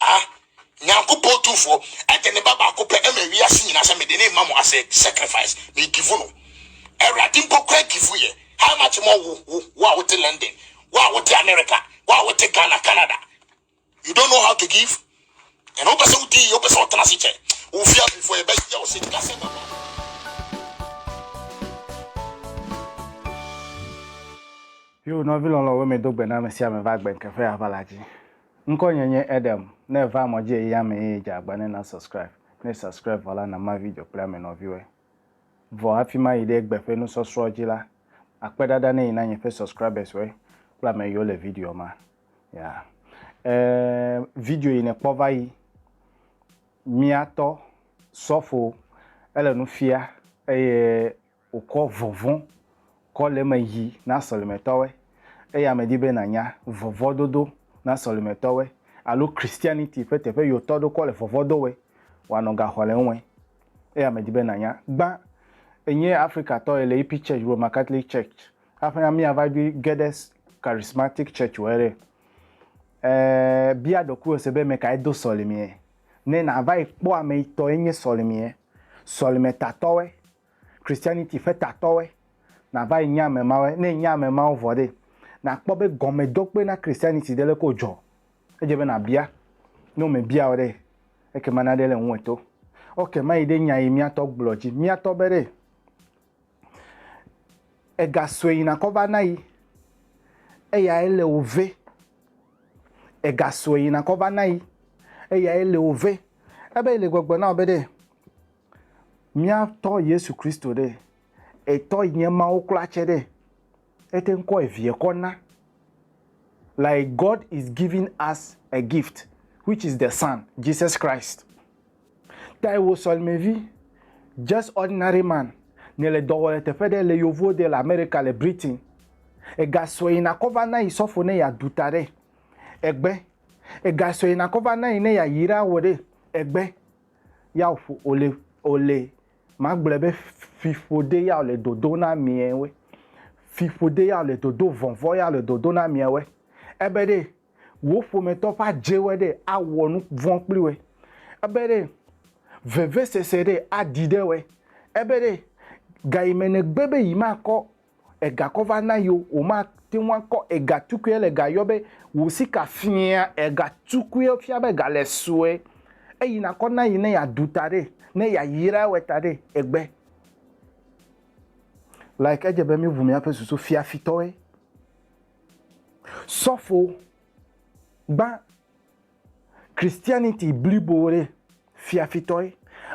Ah, nyankopɔn tu fɔ ɛdɛ ne baba ko pɛ ɛmɛ wi asi nyina sɛ me de ne mamu asɛ sacrifice me givu no ɛwurade mpo kura givu yɛ how much more wo wo wo a wote London wo a wote America wo a wote Ghana Canada you don't know how to give and wo pɛsɛ wo di yɛ wo pɛsɛ wo tena se kyɛ wo fia mi fɔ yɛ bɛ yɛ wo se tika sɛ baba Yo, nɔvi lɔlɔ̃wo, medo gbe na ame sia ame va gbe ŋkeƒe aʋala dzi. Ŋkɔ nye nye Edem, ne èva mɔ dzi eyi ame eye dze agba ne na subscribe, ne subscribe vɔ la nama video kple ame nɔviwɔe. Vɔ hafi mayi ɖe egbe ƒe nusɔsrɔ̃ dzi la, akpe ɖaɖa ne yi na nye ƒe subscribers wɔe kple ame yiwo le videoa ma. Yeah. Eh, video yi nekpɔ va yi. Mia tɔ, sɔfo, ele nu fia eye Wòkɔ vɔvɔ̃ kɔ le eme yi na sɔlemetɔwoe. Eya medi be nànya vɔvɔ̃ dodo na sɔlemetɔwoe alo Christianity ƒe teƒe yi wòtɔ ɖo kɔ le vɔvɔ̃ do wɔe. Wòanɔ ga xɔ le eŋue. Eya medi be nànya. Gbã, enye Afrika tɔ ye le yipi church Roman Catholic Church. Hafi na míava ɖoe ge ɖe Charismatic Church wɔe ɖe, e, bia ɖokuiwò se be ame kae do sɔlemea. Ne nàva yi kpɔ ame yi tɔ ye nye sɔlemea, sɔlemetatɔwoe Christianity ƒe tatɔwoe nava yi nye ame mawoe. Ne nye ame mawo vɔ ɖe, nàkpɔ be gɔmedokpe na Christianity ɖe leke wòdzɔ. Edze be nàbia. Ne womebia wò ɖe, ekema naɖe le ŋuwò to. Ok, mayi ɖe nya yi míatɔ gblɔ dzi. Míatɔ be ɖe, ega sue yi nakɔ va na yi, eyae le wò ve. Ega sue yi nakɔ va na yi, eyae le wò ve. Ebe le gbɔgblɔ na wò be ɖe, Mía tɔ Yesu Kristo ɖe, etɔ yi nye Mawu kura tsɛ ɖe, ete ŋu kɔ eviɛ kɔ na. Like God is giving us a gift which is the son, Jesus Christ. Tae wò sɔlemevi, just ordinary man, nɛ le dɔ wɔ le teƒe ɖe le yovo de le America le Britain. Ega sɔe yina kɔ va na yi sɔfo ne ya du ta ɖe, egbe. Ega sɔe yina kɔ va na yi ne ya yi ɖa wɔ ɖe, egbe. ya ƒo ole ole magblɔe be fiƒode ya le dodo na miawe fiƒode ya le dodo vɔvɔ ya le dodo na miawe ebe ɖe wo ƒometɔ ƒe adzewe ɖe awɔ nu vɔ̃ kpli we ebe ɖe vevesese ɖe aɖi ɖe we ebe ɖe gayime negbe be yi makɔ Ega kɔ va na yio, womate ŋu akɔ ega tukui le ga yɔ be wò sika fia ega tukui fia be ga le sue eyi nakɔ na yi ne ya ɖu ta ɖe ne ya yra ewɛ ta ɖe egbe like edze be mi ʋu mia ƒe susu fia fitɔe sɔfo gbã Christianity blibo ɖe, fiafitɔe.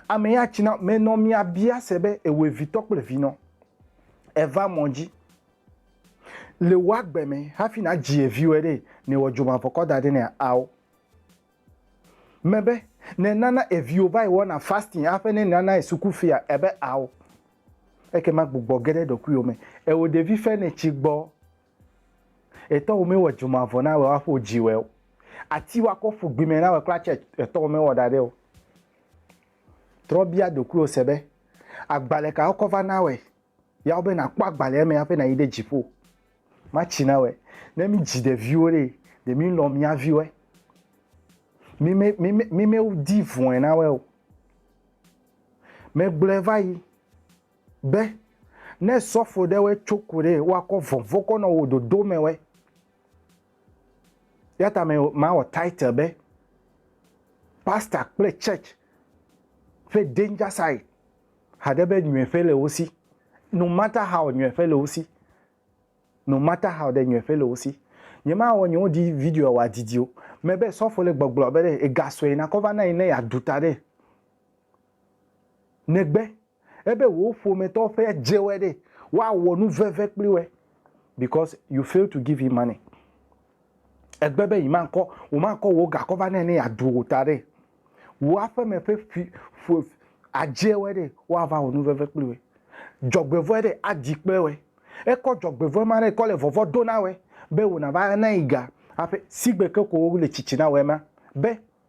Ame ya tsina me nɔ mia bia se be ewe vitɔ kple vinɔ. Eva mɔ dzi. Le wò agbe me hafi na dzi eviwɛ ɖe, ne wɔ dzomavɔkɔ da ɖe nɛ ao. Me be, ne nana eviwo va yi wɔna fasting aƒe ne nana yi suku fia ebe ao. Ekema gbugbɔ ge ɖe ɖɔkuiwɔ me. Eo ɖevi fe ne tsi gbɔ. Etɔ wo me wɔ dzoma vɔ na wɛ wa ƒo dzi wɛ o. Ati wa kɔ ƒu gbi me na wɛ kpla tsɛ etɔ wo me wɔ da ɖɛ o. Trɔ bia ɖokuiwo se be, agbalɛ ka wo kɔ va na wɛ ya wo be na kpɔ agbalɛ me aƒe na yi ɖe dziƒo. Ma tsi na wɛ. Ne mi dzi ɖeviwo ɖee, ɖe mi lɔ mia viwɔɛ. Mi me, mi me, mi me di vɔɛ na wɛ o. Megblɔɛ va yi Be, ne sɔfo ɖe wɛ tso ku ɖe wa kɔ vɔnvɔ kɔ nɔ wo dodo mɛ wɛ. Yata mɛ ma wɔ title be Pastor kple Church ƒe danger side haɖe be nyuiƒe le wo si. No matter how nyuiƒe le wo si. No matter how ɖe nyuiƒe le wo si. Nye ma wɔ nye wo ɖi video wa didi o. Mɛ be sɔfo le gbɔgblɔ be ɖe ega sɔe na kɔ va na yi ne ya ɖu ta ɖe. Negbe ebe wò ƒometɔwo ƒe dze wɔe ɖe, woawɔ nu veve kpli wɔe because you fail to give him money. Egbe be yimakɔ, womakɔ wò gakɔ va nɛ ne yeaɖu wò ta ɖe. Wò aƒeme ƒe ƒi, ƒo, adze wɔe ɖe, woava wɔ nu veve kpli wɔe. Dzɔgbevɔ̃e ɖe, adi kple wɔe. Ekɔ dzɔgbevɔ̃e ma ɖe kɔ le vɔvɔ̃ do na wɔe be wò nàva ana yi ga aƒe. Sigbe ke ko wole tsitsi na wɔe ma be.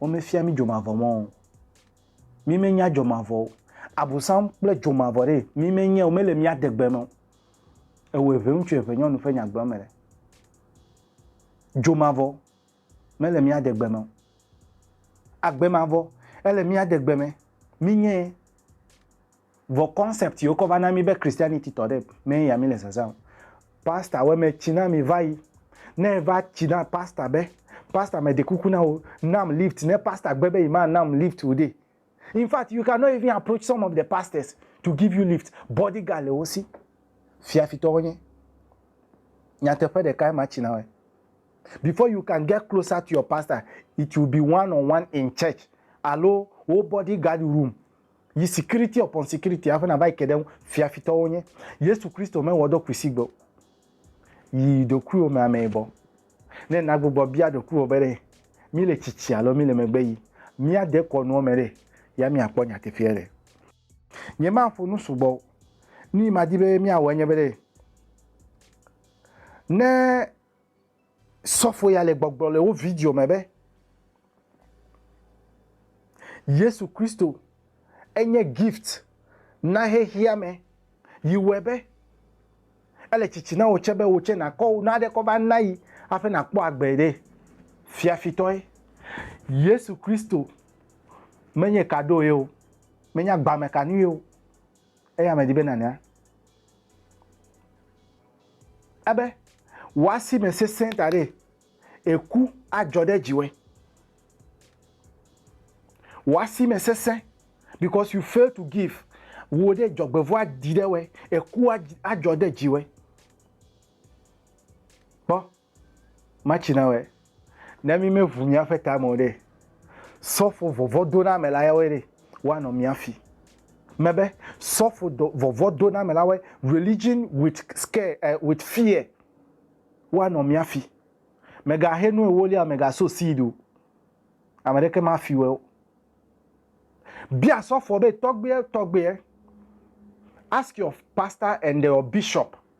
Womefia mí dzomavɔ mɔ o. Mí menya dzomavɔ o. Abosam kple dzomavɔ ɖee mí menye o. Mele mía degbe me o. Ewɔ eŋɛŋutsu eŋɛnyɔnu ƒe nyagblɔme ɖe. Dzomavɔ mele mía degbe me o. Agbemavɔ ele mía degbe me. Mí nye ye. Vɔ concept yi wokɔ va na mí be Christianity tɔ ɖe mɛ ya mí le zazã o. Pastor wɛ mɛ tsi na mí vayi. Ne eva tsi na pastor be, pastor mɛ ɖe kuku na wò nam lift ne pastor gbe be yi ma nam lift o ɖe. In fact you can not even approach some of the pastors to give you lift. Body guard le wo si. Fiafitɔ wo nye. Nyateƒe ɖeka ye ma tsi na wɛ. Before you can get closer to your pastor, it will be one on one in church alo wo body guard room. yi sikiriti ɔpɔn sikiriti aƒe nava yi ke ɖe ŋu fia fitɔwo nye yesu kristo me wɔ dɔ kusi gbɔ yi ɖokuiwo me amee bɔ ne nagbugbɔ bia ɖokuiwo be ɖe mi le tsitsi alo mi le megbe yi mia de kɔ nuwo me ɖe ya mia kpɔ nyateƒea ɖe nye ma ƒo nu sugbɔ ni ma di be mia wɔ enye be ɖe ne Sɔfo ya le gbɔgblɔ le wo video me be, Yesu Kristo enye gift na xexea me yi wɔe be ele tsitsi na wò tsɛ be wò tsɛ nàkɔ wò naɖe kɔ va na yi hafi nàkpɔ agbe ɖe fiafitɔe. Yesu Kristo menye kaɖo ye o, menye agbamekanue o, Eya medi be nànya ebe wò asi me sesẽ ta ɖee, eku adzɔ ɖe dziwòe. Wò asi me sesẽ because you fail to give. Wò ɖe dzɔgbevɔ̃ aɖi ɖe wòe, eku adzɔ ɖe dziwòe. Kpɔ Matsi na wɔe. Ne mí me ʋu míaƒe ta me o ɖee, sɔfo vɔvɔdonamela yawoe ɖe woanɔ mía fi. Mebe, sɔfo dɔ vɔvɔdonamelawoe, religion with scare, eh, with fear, woanɔ mía fi. Mèga he nu ewolia o, mèga sow seed o. Ame ɖeke ma fi wɔe o. Bia sɔfoa be, tɔgbuiɛ, tɔgbuiɛ, ask your pastor and your bishop.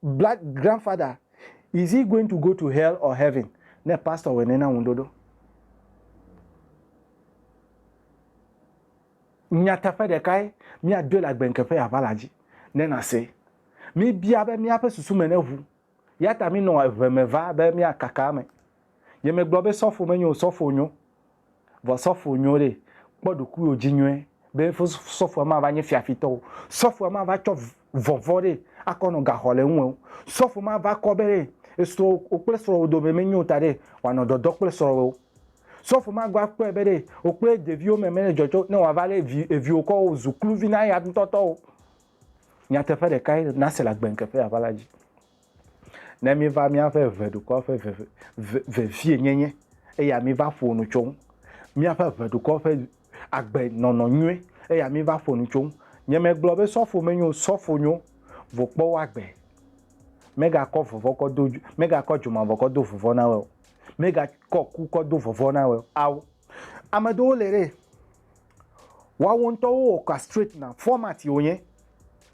Black grandfather is he going to go to hell or heaven ne pastor wɔe nɛ na ŋuɖoɖo. Nyateƒe ɖekae míadoe le agbeŋkeƒe aʋala dzi ne nàsee. Míbia be míaƒe susu me neʋu, eya ta mínɔ eʋe me va be míakaka eme. Yemegblɔ be sɔfo menyo o, sɔfo nyo. Vɔ sɔfo nyo ɖe, kpɔ ɖokuiwò dzi nyuie be sɔfoa mava nye fiafitɔ o. Sɔfoa mava tsɔ vɔvɔ̃ ɖe akɔ nɔ gaxɔ le eŋu o. Sɔfo mava kɔ be ɖe esrɔ̃wò kple srɔ̃wò dome menyo o ta ɖe wòanɔ dɔdɔ kple srɔ̃wò o. Sɔfo magbe akpɔe be ɖe wò kple ɖeviwò me mele dzɔdzɔ ne wòava lé viwò kɔ wòzu kluvi na eya ŋutɔ tɔ o. Nyateƒe ɖekae nàse le agbeŋkekeaʋala dzi. ne míva míaƒe ʋeɖukɔ ƒe veve, ve, vevienyenye, eya míva ƒo nu tso ŋu, míaƒe ʋeɖukɔ ƒe agbenɔnɔ nyui, eya míva ƒo nu tso ŋu. Nyemegblɔ be sɔfo menyo o, sɔfo nyo, vɔ kpɔ wo agbe. Megakɔ vɔvɔ̃ kɔ do, megakɔ dzomavɔ kɔ do vɔvɔ̃ na wɔe o. Megakɔ ku kɔ do vɔvɔ̃ na wɔe o. Ao. Ame aɖewo le ɖe, woawo ŋutɔwo wowɔ castrate na, format ye wonye.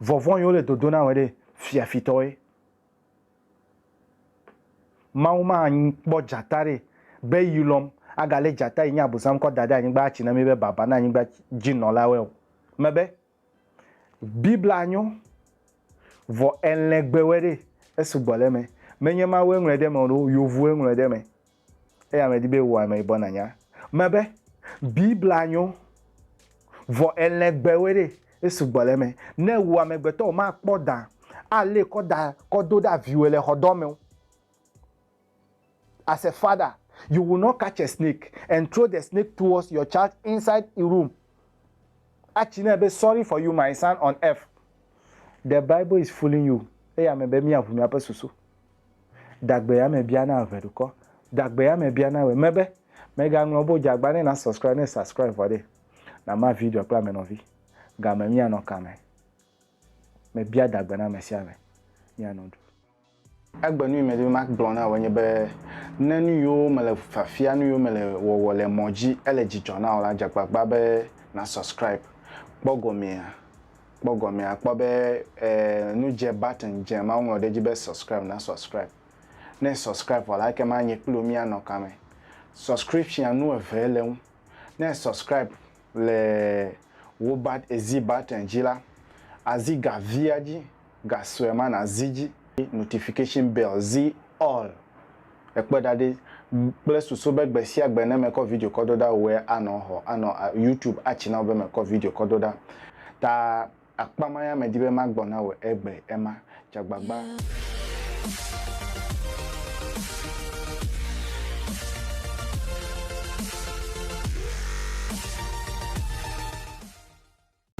Vɔvɔ̃ yi wole dodo na wòe ɖe, fiafitɔwoe. Mawu makpɔ dzata ɖe be yi lɔm agalé dzata yi nye Abosam kɔ da ɖe anyigba atsi na mí be baba na anyigba dzi nɔlawoe o. Mebe, Biblia nyo, vɔ elɛgbewoe ɖe, esugbɔ le eme. Menye Mawue ŋlɔe ɖe eme o ɖo, yovuwoe ŋlɔe ɖe eme. Eya medi be wò ameyibɔ nanya me be Biblia nyo, vɔ elɛn gbewoe ɖe, esu gbɔ le eme. Ne wò amegbetɔ womakpɔ dã alé kɔ da kɔ do ɖa viwòe le xɔ dɔ meo, as a father you will not catch a snake and throw the snake towards your child inside e room atsi nɛ be sorry for you my son on earth the bible is fooling you eya me be miaʋu miaƒe susu. Dagbe ame bia na eve ɖukɔ. Dagbe ame bia na we me be me ga ŋlɔ bo jagba ne na subscribe ne subscribe vɔ ɖe na ma video kple ame nɔvi ga me mia nɔ kame me bia dagbe na ame sia ame mia nɔ ɖu. Egbe nu yi me di be ma gblɔ na wo nye be ne nu yiwo me le fiafia nu yiwo me le wɔwɔ le mɔ dzi ele dzidzɔ na wo la jagbagba be na subscribe kpɔ gɔmea kpɔ gɔmee akpɔ be e nu dze button dze ma woŋlɔ ɖe edzi be subscribe na subscribe ne e subscribe vɔ la ekema nye kpli wò mía nɔ kame subscription nu eve le eŋu ne e subscribe le wò but ezi button dzi la azi ga via dzi ga sue ma na zi dzi notification bell zi all. Ekpɔe ɖa ɖi kple susu be gbe sia gbe ne mekɔ video kɔ do ɖa wòe anɔ xɔ, anɔ YouTube atsi na wò be mekɔ video kɔ do ɖa. Ta akpa ma ya medi be magbɔ na wò egbe ema. Tsa agbagba.